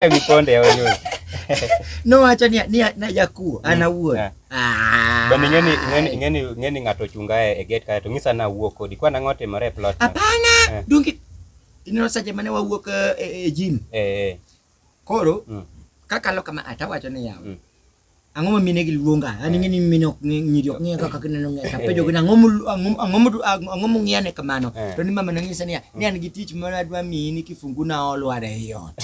Vikonde ya wenyewe. No acha ni ni na yakuo mm. ana wuo. Eh. Ah. Bani ngeni ngeni ngeni ngeni ngato chunga e gate kae to ngisa na wuo kodi kwa na ngote mare plot. Hapana. Eh. Dungi ineno saje mane wawuok e, e, e gym. Eh. Koro mm. kakalo kama atawacho ni yawa. Mm. Ang'o ma mine gi luonga? An ing'e ni mine ok ng'e nyiri ok ng'e kaka kineno ng'e. Apenjo gina ang'o ang'o ang'o mung'iya ne kamano? Eh. To ni mama nonyisa niya, ni an gi tich ma adwa miyi ni kifungu na olwar e ot.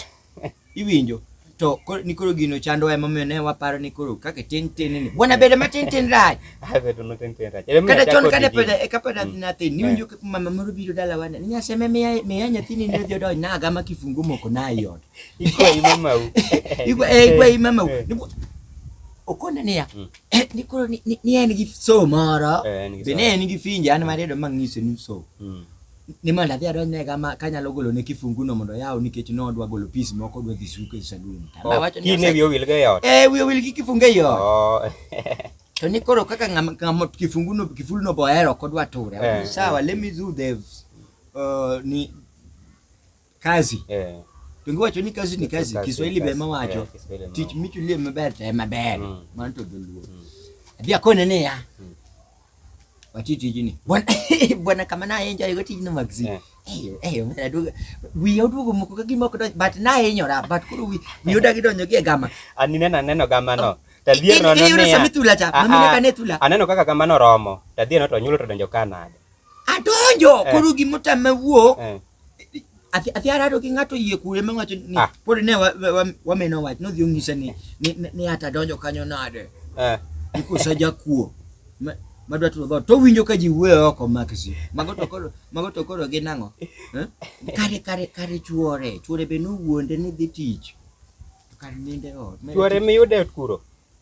Iwinjo? to ni koro gino chandowa emomiyo ne waparo ni koro kaka tin tin ni bwana bedo matin tin rach kata chon kane pod eka pod adhi nathin niwinjo eh. kaka mama moro biro dalawa ni nyaseme miya nyathini ne odhi odonj nagama kifungu moko na iot ikwa ima mau ikwa eh ikwa ima mau eh. niguo ukona niya mm. eh, nikoro ni en gi so moro eh, be ne en gi finja an mariedo mang'iso ni so mm. ni mondo adhi adonj ne kama kanyalo golo ne kifungu no mondo yaw nikech no odwa golo pis moko odwa dhi suko e salun awacho ni ne wiyo wil ga yot eh wiyo wil gi kifungu e yot oh. to ni koro kaka ng'ama kifungu no kifulu no bohero kodwa ture sawa let me do the uh, ni Kazi. Eh. Tungi wacho ni kazi ni kazi. Kiswahili be ma wacho. Eh, Tich michulie maber te maber. Mm. Mano to dholuo. Mm. Adhi akone ne ya. Mm. Wati tijini. Bwana bwana kama na enjoy yuko tijini magzi. Eh. Eyo, eyo, mwana duga. Wiyo dugo moko kaki moko do, but na enyo ra, but kuru wi, wiyo dagi do nyogi gama. Ani nena neno gama no. Oh. Tadhier no no ne ya. Aneno kaka gama no romo. Tadhier no to nyulo to donjo kanade. Adonjo eh. koro gima otame wuok eh. athi athi arado gi ng'ato yie kure ma wacho ni ah. pod ne wameno wach nodhi onyise ni ni ata donjo kanyo nade eh. ikusa jakuo madwa turo dhoot to winjo ka ji wuoyo oko makisi mago to koro mago to koro gin ang'o eh? kare kare kare chuore chuore be nowuonde ni dhi tich kar ninde ot chuore miyude kuro